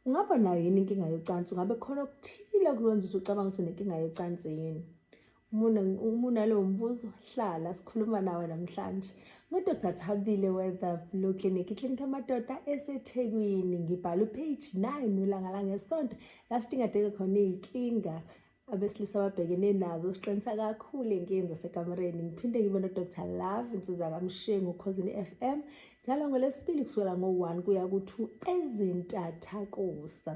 Ungaba nayo yini inkinga yocansi? Ungabe khona okuthile okwenza ukuthi ucabanga ukuthi unenkinga yocansi yini? Uma unalowo mbuzo, hlala sikhuluma nawe namhlanje. NguDr Thabile Weather Blue Clinic, iklinikhi yamadoda eseThekwini. Ngibhala upage 9 ulanga langesonto la sidingadeke khona iy'nkinga abesilisa ababhekene nazo siqinisa kakhulu inkinga zasekamereni ngiphinde ngibe nodr love insiza kamshengu ukhozini f m njalo ngolesibili kusukela ngo-one kuya ku-two ezintathakusa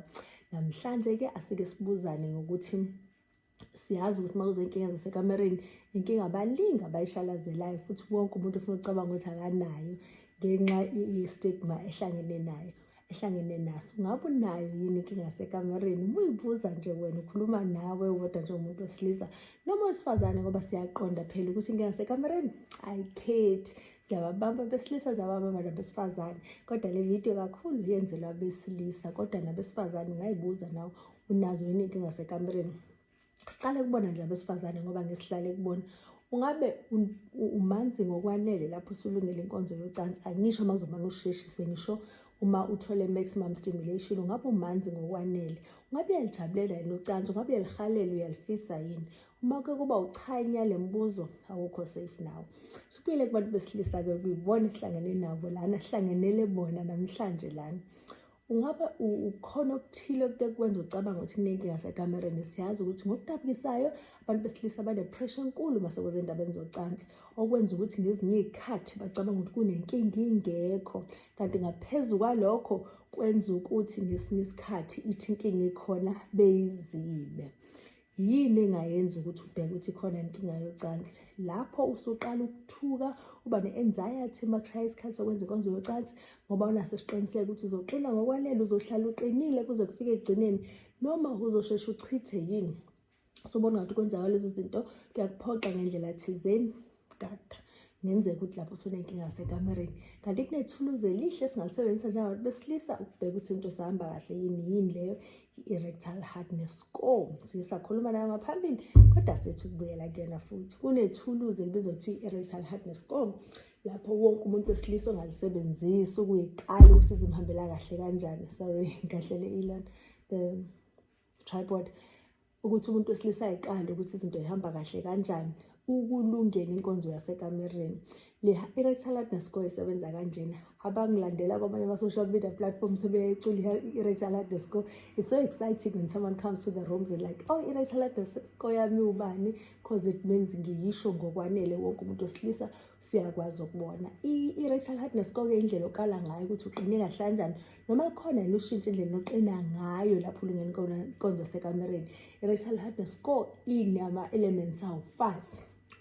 namhlanje-ke asike sibuzane ngokuthi siyazi ukuthi uma kuzenkinga zasekamereni inkinga baningi abayishalazelayo futhi wonke umuntu ufuna ukucabanga ukuthi akanayo ngenxa ye-stigma ehlangene nayo ehlangene naso ngabe unayo yini inkinga yasekamereni uma uyibuza nje wena ukhuluma nawe wodwa njengomuntu wesilisa noma wesifazane ngoba siyaqonda phela ukuthi inkinga yasekamereni ayikhethi ziyababamba besilisa ziyababamba nabesifazane kodwa le video kakhulu yenzelwa abesilisa kodwa nabesifazane ungay'buza nawe unazo yini inkinga yasekamereni siqale kubona nje abesifazane ngoba ngesihlale kubona ungabe umanzi ngokwanele lapho usulungele inkonzo yocansi angisho uma uzomane usheshise ngisho uma uthole maximum stimulation ungabe umanzi ngokwanele ungabe uyalijabulela yini ucansi ungabe uyalihalela uyalifisa yini uma ke kuba uchanya le mbuzo awukho safe nawo sibuyele kubantu besilisa-ke kuyibona esihlangene nabo lana sihlangenele bona namhlanje lana Ungabe ukhona okuthile okuke kwenza ucabanga ukuthi kunenkinga sekamereni siyazi ukuthi ngokudabukisayo abantu besilisa bane-pressure enkulu uma sekweza endabeni zocansi okwenza ukuthi ngezinye iy'khathi bacabanga ukuthi kunenkinga ingekho kanti ngaphezu kwalokho kwenza ukuthi ngesinye isikhathi ithi inkinga ikhona beyizibe Yini engayenza ukuthi ubheke ukuthi khona inkinga yocansi? Lapho usuqala ukuthuka, uba ne-anxiety uma kushaya isikhathi sokwenza inkonzo yocansi ngoba unaso isiqiniseko ukuthi uzoqina ngokwanele, uzohlala uqinile kuze kufike ekugcineni noma uzosheshe uchithe yini? Sobona ngathi kwenzeka lezo zinto kuyakuphoxa ngendlela thizeni. kudada ngenzeka ukuthi lapho usunenkinga sekamereni kanti kunethuluzi elihle esingalisebenzisa njengabantu besilisa ukubheka ukuthi into sihamba kahle yini yini leyo i-erectal hardness score siye sakhuluma nayo ngaphambili kodwa sethi ukubuyela kuyona futhi kunethuluzi elibizwa kuthiwa i-erectal hardness score lapho wonke umuntu wesilisa ongalisebenzisi ukuyiqala ukuthi zimhambela kahle kanjani sorry kahlele ilona the tripod ukuthi umuntu wesilisa ayiqale ukuthi izinto zihamba kahle kanjani ukulungela inkonzo yasekamereni le i-rectal hardness score isebenza kanjena abangilandela kwamanye ama-social media platforms sebeyecula i-rectal hardness score it's so exciting when someone comes to the rooms and like oh i-rectal hardness score yami ubani because it means ngiyisho ngokwanele wonke umuntu wesilisa siyakwazi ukubona i-rectal hardness koke indlela okala ngayo ukuthi uqine kahle kanjani noma khona yini ushintshe indlela oqina ngayo lapho ulungeni konzo sekamereni i-rectal hardness ko inama-elements awu five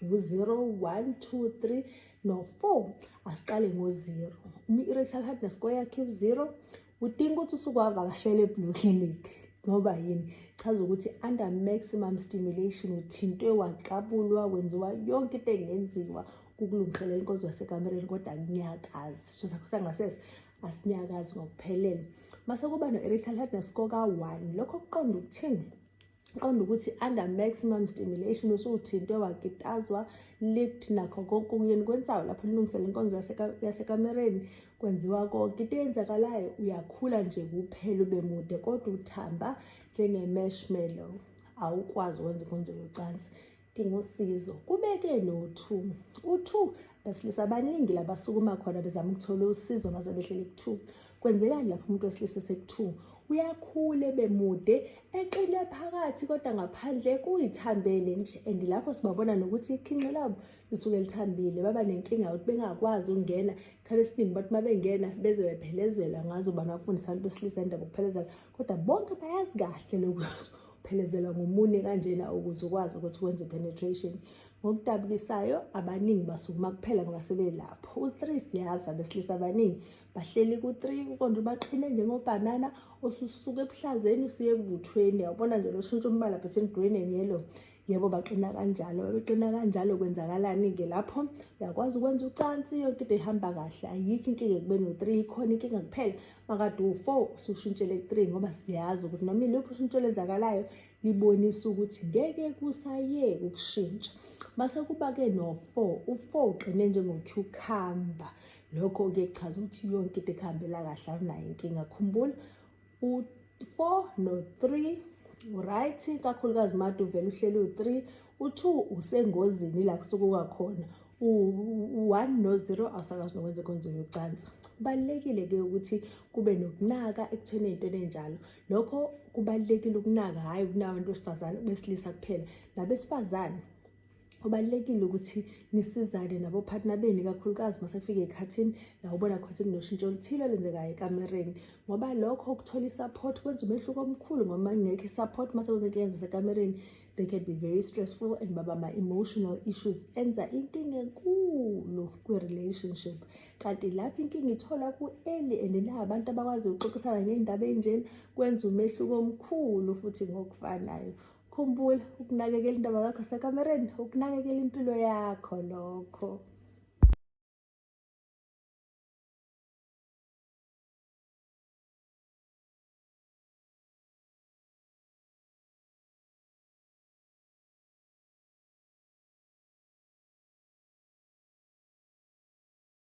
ngu-zero one two three no-four asiqale ngo-zero uma i-rectal hardness ko yakhe u-zero udinga ukuthi usuke wavakashela eblue clinic ngoba yini chaza ukuthi under maximum stimulation uthintwe waqabulwa wenziwa yonke into engenziwa ukulungiselela inkonzo yasekamereni kodwa kunyakazi so sakho sangasese asinyakazi ngokuphelele mase kuba no-erectile hardness koka-one lokho kuqonda ukuthini qonda ukuthi under maximum stimulation usuthintwe wakitazwa lift nakho konke okuyeni kwensayo lapho lilungisela inkonzo yasekamereni kwenziwa konke into eyenzakalayo uyakhula nje kuphela ube mude kodwa uthamba njenge-mashmallow awukwazi ukwenza inkonzo yocansi dinga usizo kubeke no-two u-two besilisa abaningi labasukuma khona bezama ukuthola usizo maze behlele ku-two kwenzekani lapho umuntu wesilisa eseku-two uyakhule bemude eqine phakathi kodwa ngaphandle kuyithambele nje and lapho sibabona nokuthi ikhinqe labo lisuke lithambile baba nenkinga yokuthi bengakwazi ukungena isikhathi esiningi bathi uma bengena beze bephelezelwa ngazo bani bafundisa abantu besilisa indaba ukuphelezela kodwa bonke bayazi kahle lokuthi uphelezelwa ngomune kanjena ukuze ukwazi ukuthi wenze penetration ngokudabukisayo abaningi basukuma kuphela ngoba sebelapho u-three siyazi abesilisa abaningi bahleli ku-three kukonje baqhine njengobhanana ususuke ebuhlazeni usuye ekuvuthweni yawubona nje loshintsha umbala between green and yellow yebo baqina kanjalo beqina kanjalo kwenzakalani-ke lapho uyakwazi ukwenza ucansi yonke into ihamba kahle ayikho inkinga ekubeni u-three ikhona inkinga kuphela makade u-four usushintshele ku-three ngoba siyazi ukuthi noma iluphi ushintsho olenzakalayo libonisa ukuthi ngeke kusayeke ukushintsha mase kuba-ke no-four u-four uqine njengocucumber lokho-ke kuchaza ukuthi yonke into ekuhambela kahle awunayo inkinga khumbula u-four no-three right kakhulukazi made uvele uhleli u-three u-two usengozini la kusukuka khona u-one no-zero awusakwazi nokwenza inkonzo yocansa kubalulekile-ke ukuthi kube nokunaka ekutheni ey'ntweni enjalo lokho kubalulekile ukunaka hhayi ukunabantu besifazane besilisa kuphela nabesifazane kubalulekile ukuthi nisizane nabophathina benu ikakhulukazi uma sekufika ekhathini la ubona khona ukuthi kunoshintsho oluthile olenzekayo ekamereni ngoba lokho ukuthola i-support kwenza umehluko omkhulu ngoba ngekho i-support uma sekwenza inkinga zasekamereni they can be very stressful and baba ma-emotional issues enza inkinga enkulu kwi-relationship kanti lapho inkinga ithola ku-eli and na abantu abakwazi ukuxoxisana ngey'ndaba ey'njena kwenza umehluko omkhulu futhi ngokufanayo Khumbula ukunakekela indaba yakho sekamereni, ukunakekela impilo yakho lokho.